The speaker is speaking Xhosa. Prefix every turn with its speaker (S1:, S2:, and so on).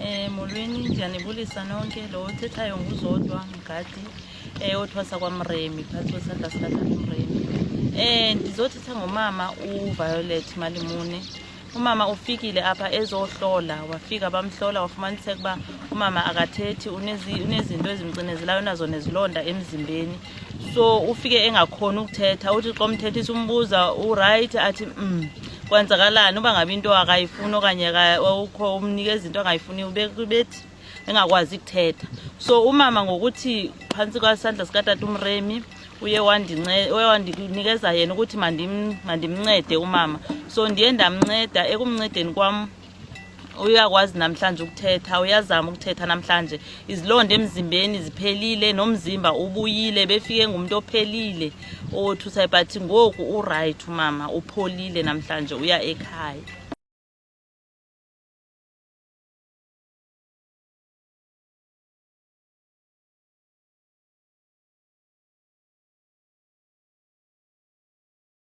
S1: Eh, molweni ndiyanibulisa nonke lo othethayo nguzodwa mgadi eh, othwasa kwamremi phantsi kwesandla sikatakumremi eh, ndizothetha ngomama uviolet malimune umama ufikile apha ezohlola wafika bamhlola wafumaniseka uba umama akathethi unezinto ezimcinezelayo nazo nezilonda emzimbeni so ufike engakhoni ukuthetha uthi xa umthethisa umbuza urayithi athi um kwenzakalani uba ngabe into akayifuni okanye ukho umnikeza into angayifuniyo bethi engakwazi kuthetha so umama ngokuthi phantsi kwasandla sikatata umremi uye wandinikeza yena ukuthi mandimncede umama so ndiye ndamnceda ekumncedeni kwam uyakwazi namhlanje ukuthetha uyazama ukuthetha namhlanje izilonda emzimbeni ziphelile nomzimba ubuyile befike ngumntu ophelile owothusayo but ngoku urayithi umama upholile namhlanje uya ekhaya